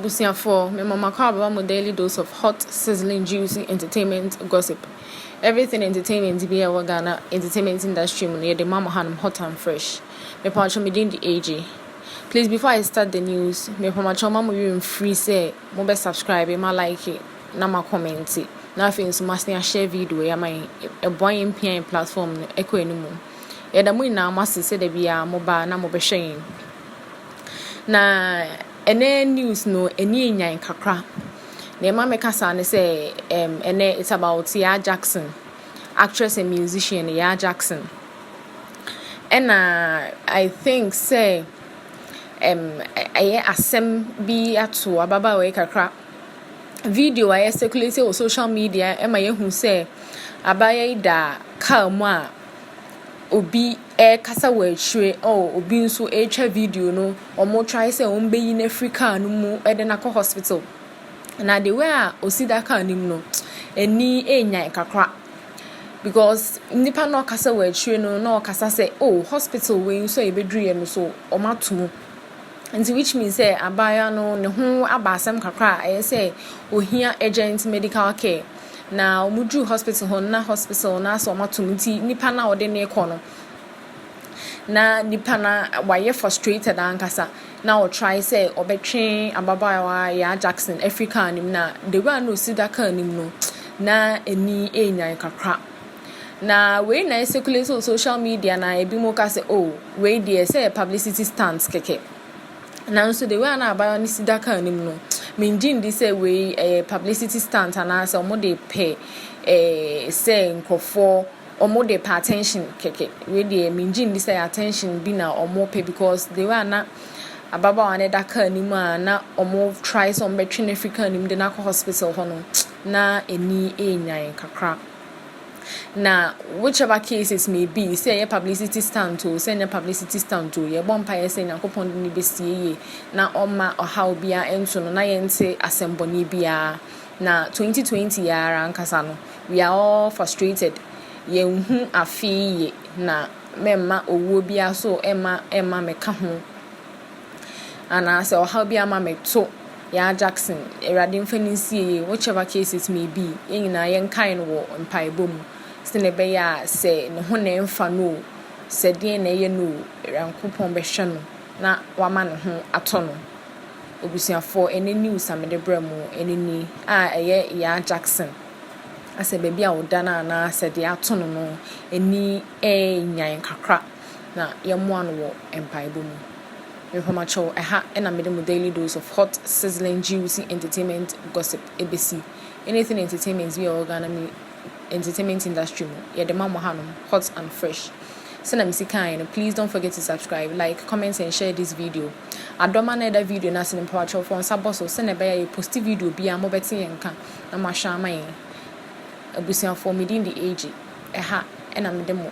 Abusuafoɔ, me mama kɔ abɛma mo daily dose of hot, sizzling, juicy entertainment gossip. Everything entertainment bi a ɛwɔ Ghana entertainment industry mu no yɛde ma mo hanom hot and fresh. Mepamakyɛw me din de AJ. Please before I start the news, mepamakyɛw ma mo werɛ mfiri sɛ mobɛ subscribe, ma like. na ma kɔmɛnte na afei nso ma san ahyɛ video yi ama yɛn ɛboa yɛn pia yɛn platform no ɛkɔ anim yɛda mo nyinaa mo ase sɛ da biara mo baa na mo bɛhwɛ yɛn na ɛnɛ news no ɛni enyan kakra na ɛma mɛka saa ne sɛ ɛm ɛnɛ it's about Yaa Jackson actress and musician Yaa Jackson ɛna I think sɛ ɛm ɛyɛ asɛm bi ato ababaawa yi kakra. video a yɛsɛkulate wɔ social media ma yɛhu sɛ abaayewa yi da kaa mu a obi ɛrekasa wɔ akyire oh obi nso ɛretwa video no wɔtry sɛ wɔbɛyi no afiri kaa no mu de no akɔ hospital na the way a ɔsi da kaa no mu no ani ɛrenyan kakra because nipa na ɔkasa wɔ akyire no na ɔkasa sɛ oh hospital wei nso a yɛbɛduruyɛ no nso wɔato mu. Ntsi which means sɛ abaayewa no ne ho aba asɛm kakra a ɛyɛ sɛ ohia urgent medical care. Na wɔduu hospital hɔ no na hospital no asɛ wɔato mu nti nipa no a wɔde no rekɔ no na nipa no wayɛ frustrated ankasa na ɔtrae sɛ ɔbɛtwe ababaawa Yaa Jackson afiri kaa no mu na the way a na osi da kaa no mu no na ani ɛrenyan kakra. Na wei na ɛcirculate wɔ social media na ebi mu ka sɛ oh wei deɛ sɛ yɛ publicity stunt kɛkɛ nanso the way a na abaayewa no si da kaa anim no mengye ndi sɛ wei ɛyɛ publicity stunt anaasɛ wɔn de pɛ ɛɛ sɛ nkurɔfoɔ wɔn de pɛ attention kɛkɛ wei deɛ mengye ndi sɛ attention bi na wɔn pɛ because the way a na ababaawa no da kaa anim a na wɔn try sɛ wɔn bɛtwe no afiri kaa anim de no akɔ hospital hɔ no na ani ɛrenyan kakra. Na which ever cases may be, sɛ ɛyɛ publicity stunt o, sɛ ɛnyɛ publicity stunt o, yɛbɔ mpaeɛ sɛ Nyankopɔn de no bɛsie yie na ɔmma ɔhaw biara nto no na yɛnte asɛmbɔne biara. Na 2020 yɛ ara ankasa no, we are all frustrated. Yɛnhu afei yie na mɛmma owuo biara so ɛmma ɛmma mɛka ho. Anaa sɛ ɔhaw bi ama me to Yaa Jackson, Awurade mfa no nsie yie, whichever case it may be, yɛn nyinaa yɛnkae no wɔ mpaebɔ mu sɛnea ɛbɛyɛ a sɛ ne ho na ɛmfa no o, sɛ deɛn na ɛyɛ no o, Awurankopɔn bɛhwɛ no na wama ne ho atɔ no. Abusuafoɔ, ɛnɛ news a mede brɛ mo, ɛnɛ ni a ɛyɛ Yaa Jackson, asɛ baabi a ɔda no anaa sɛ deɛ ato no no, ani ɛɛnyan kakra. na yɛmmoa no wɔ mpaebɔ mu. Nhomakyɛw, Ɛha na mede mo daily dose of hot, sizzling, juicy entertainment gossip besi. Anything entertainment bi a ɛwɔ Ghana mu entertainment industry mu, yɛde ma mo hanom, hot and fresh. Sɛnea mesi kae no, please don't forget to subscribe, like, comment and share this video. Adɔma na ɛda video no ase no, mpawakyɛw fɔ nsa bɔ so sɛnea ɛbɛyɛ a yɛposti video biara mobɛte yɛn nka na moahwɛ ama yɛn. Abusuafoɔ, medin de AJ. Ɛha na mede mo